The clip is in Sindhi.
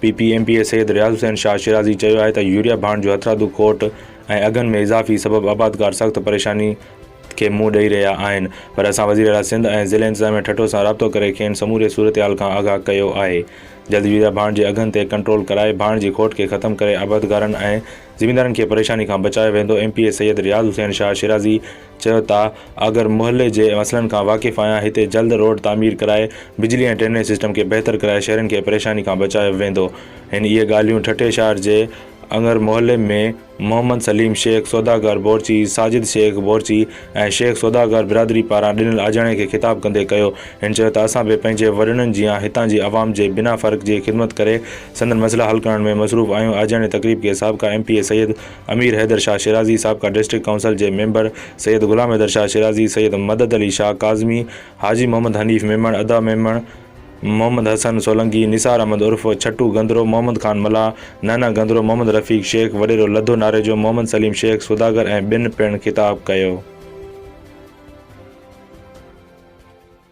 P P M P A Syed Riaz Hussain Shah Shirazi چيو آهي ته يوريا ڀاڻ جو هٿرادو کوٽ ۽ اگهن ۾ اضافي سبب آبادگار سخت پريشاني کي منهن ڏئي رهيا آهن پر اسان وزيراعليٰ سنڌ ۽ ضلعي انتظاميه ٺٽو سان رابطو ڪري کين سموري صورتحال کان آگاهه ڪيو آهي جلد يوريا ڀاڻ جي اگهن تي ڪنٽرول ڪرائي ڀاڻ جي کوٽ کي ختم ڪري آبادگارن ۽ زميندارن کي پريشاني کان بچايو ويندو M P A Syed Riaz Hussain Shah Shirazi چيو ته آگر محلي جي مسئلن کان واقف آهيان، هتي جلد روڊ تعمير ڪرائي بجلي ۽ ڊرينيج سسٽم کي بهتر ڪرائي شهرين کي پريشاني کان بچايو ويندو. هن اهي ڳالهيون ٺٽي شهر جي اڱر محلي ۾ محمد سليم شيخ سوداگر بورچي، ساجد شيخ بورچي ۽ شيخ سوداگر برادري پاران ڏنل آجياڻي کي خطاب ڪندي ڪيو. هن چيو ته اسان به پنهنجي وڏڙن جيان هتان جي عوام جي بنا فرق جي خدمت ڪري سندن مسئلا حل ڪرڻ ۾ مصروف آهيون آجياڻي تقريب کي سابقا M P A Syed Amir Haider Shah Shirazi, سابقا ڊسٽرڪٽ ڪائونسل جي ميمبر سيد غلام حيدر شاهه شيرازي، سيد مدد علي شاهه ڪاظمي، حاجي محمد حنيف ميمڻ، ادا ميمڻ، محمد حسن سولنگي، نثار احمد عرف ڇٽو گندرو، محمد خان ملاح، نهنه گندرو، محمد رفيق شيخ، وڏيرو لڌو ناريجو، محمد سليم شيخ سوداگر ۽ ٻين پڻ خطاب ڪيو.